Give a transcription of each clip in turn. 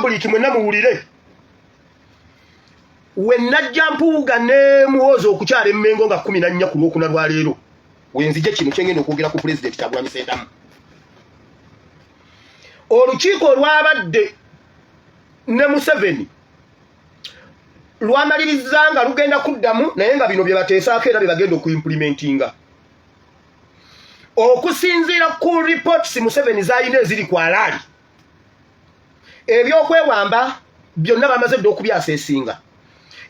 public mwenna muwulire we najja mpuuga nemuwooza okukyala emmengo nga kumi nannya ku lwokuna lwa leero wenzije kino kyengenda okwogera ku pulezidenti kyagulami sentamu olukiiko olwabadde ne museveni lwamaliriza nga lugenda kuddamu naye nga bino byebateesaako era byebagenda okuimpulimentinga okusinziira ku reports museveni zalina eziri ku alaali ebyokwewamba byonna bamaze dda okubyasa esinga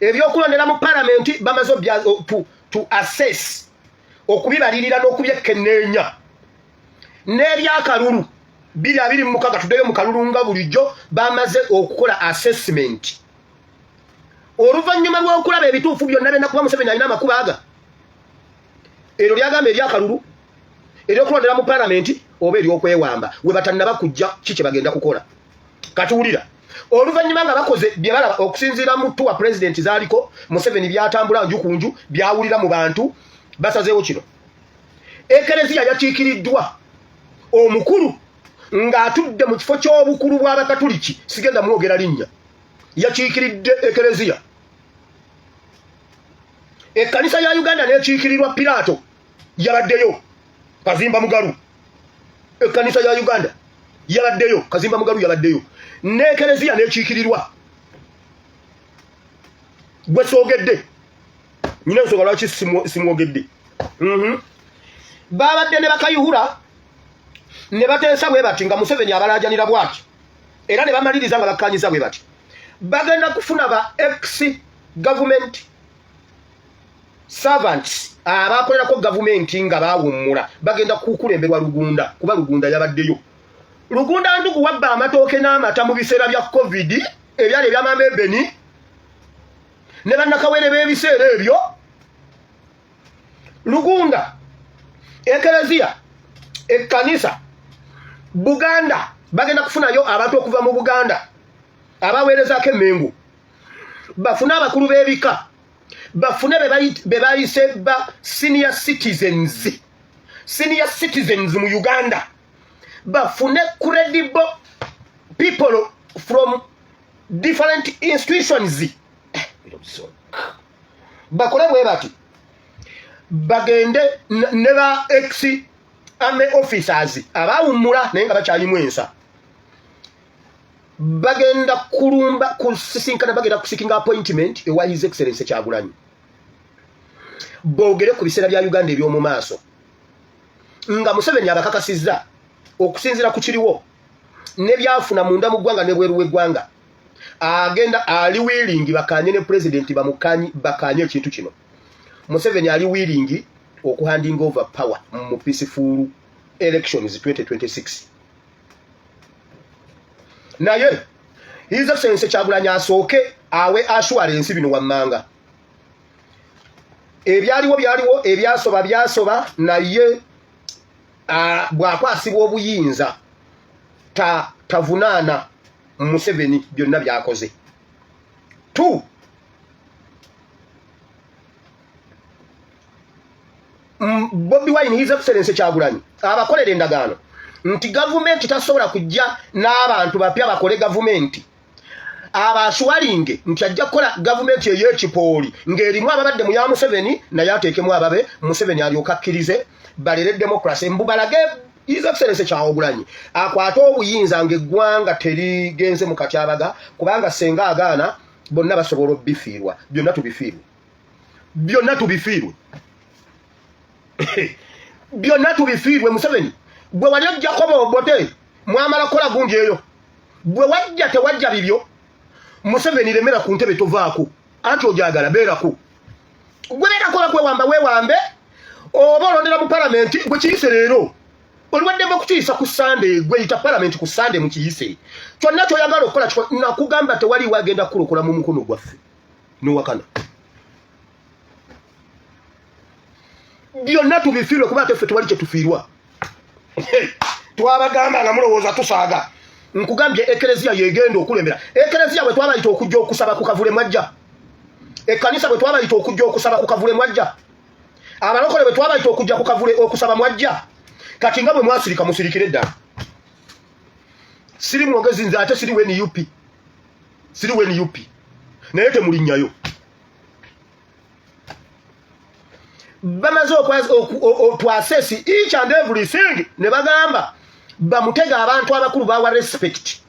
ebyokulondera mu palamenti bamaze to assess okubibalirira n'okubyekkenneenya n'ebyakalulu biri abiri mu mukaga tuddeyo mu kalulu nga bulijjo bamaze okukola assessment oluvannyuma lw'okulaba ebituufu byonna byonna kuba museveni alina amakuba aga eryo lyagamba eryakalulu eryokulondera mu palamenti oba eryokwewamba we batannaba kujja ki kye bagenda kukola katuwulira oluvannyuma nga bakoze bye balaba okusinziira mu tuwa pulezidenti zaaliko museveni byatambula nju ku nju byawulira mu bantu basazeewo kino ekereziya yakiikiriddwa omukulu ng'atudde mu kifo ky'obukulu bw'abakatuliki sigenda mwogera linnya yakiikiridde ekereziya ekkanisa ya uganda n'ekiikirirwa piraato yabaddeyo kazimba mugalu ekkanisa ya uganda yabaddeyo kazimba mugalu yabaddeyo n'ekereziya n'ekiikirirwa gwe soogedde nyina ensonga lwaki simwogedde mhm. baabadde ne bakayihura ne bateesa bwe bati nga museveni abalaajanira bwati era ne bamaliriza nga bakkanyiza bwe bati bagenda kufuna ba ex gavumenti servants abakolerako gavumenti nga bawummula bagenda kukulemberwa lugunda kuba lugunda yabaddeyo lugunda ndugu wabba amatooke n'amata mu biseera bya covid ebyali ebyamaama ebeni ne bannakawere b'ebiseera ebyo lugunda ekereziya ekkanisa buganda bagenda kufunayo abantu okuva mu buganda abaweerezaako emengu bafune abakulu b'ebika bafune be bayise ba senior citizens senior citizens mu uganda bafune credible people from different institutions eh, bakole bwe bati bagende ne ba ex ame officers abawummula naye nga bakyalimu ensa bagenda kulumba kusisinkana bagenda kusikinga appointment ewa his excellence kyagulanyi boogere ku biseera bya uganda eby'omu maaso nga museveni abakakasizza okusinzira ku kiriwo ne byafuna munda mu ggwanga ne bweru w'eggwanga agenda ali wiiringi bakanye ne pulezidenti bamukanye bakanye ekintu kino museveni ali wiiringi okuhandinga over power mu peaceful elections 2026 naye his excellency kyagulanyi asooke awe assurance bino wammanga ebyaliwo byaliwo ebyasoba byasoba naye bwakwasibwa obuyinza tavunaana museveni byonna byakoze t mm, Bobi Wine his excellence Kyagulanyi abakolera endagaano nti gavumenti tasobola kujja n'abantu bapya bakole gavumenti abaswalinge nti ajja kukola gavumenti ey'ekipooli ng'erimu ababadde mu ya Museveni naye ateekemu ababe Museveni alyoka akkirize balere demokrasi mbu balage His Excellency Kyagulanyi akwata obuyinza ng'eggwanga terigenze mu katyabaga kubanga senga agaana bonna basobola obifiirwa byonna tubifiirwe byonna tubifiirwe byonna tubifiirwe museveni gwe wali ojjako bobote mwamala kukola gundi eyo gwe wajja tewajja bibyo museveni remera ku ntebe tovaako anti ojagala beerako gwe beerakola kwewamba wewambe oba olondera mu palamenti gwe kiyise leero oliwaddemu okukiyisa ku sande gweyita palamenti ku sande mukiyise kyonna kyoyagala okukola nakugamba tewali wagenda kukulukula mu mukono gwaffe nowakana byonna tubifiirwe kuba ate ffe tewali kyetufiirwa twabagamba nga mulowooza tusaaga nkugambye ekereziya yegenda okulembera ekereziya bwe twabayita okujja okusaba ku kavule mwajja ekkanisa bwe twabayita okujja okusaba ku kavule mwajja abalokole bwe twabayita okujja ku kavule okusaba mwajja kati nga bwe mwasirika musirikire ddala siri mwogezi nze ate siri wen up siri we nup naye temulinnyayo bamaze okwasesi each and everything ne bagamba bamutega abantu abakulu bawa respect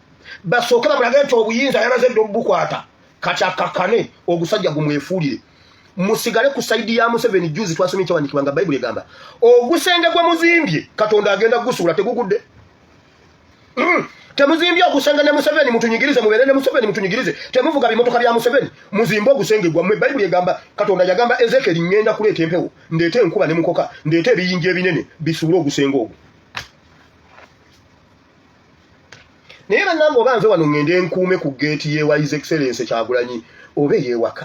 basooke bamulage nti obuyinza yamaze dda obubukwata kati akakane ogusajja gumwefuulire musigale ku saidi ya museveni juzi twasomye kyawandikibwa nga bayibuli egamba ogusenge gwe muzimbye katonda agenda gusuula tegugudde Mm. temuzimbye ogusenge ne museveni mutunyigirize mubeere ne museveni mutunyigirize temuvuga bimotoka bya museveni muzimbe ogusenge gwammwe bayibuli egamba katonda yagamba ezekeri ŋŋenda kuleeta empewo ndeete enkuba ne mukoka ndeete ebiyinja ebinene bisuule ogusenge ogwo naye bannange oba nve wano ŋŋende nkuume ku geeti yewa his excellence kyagulanyi oba eyewaka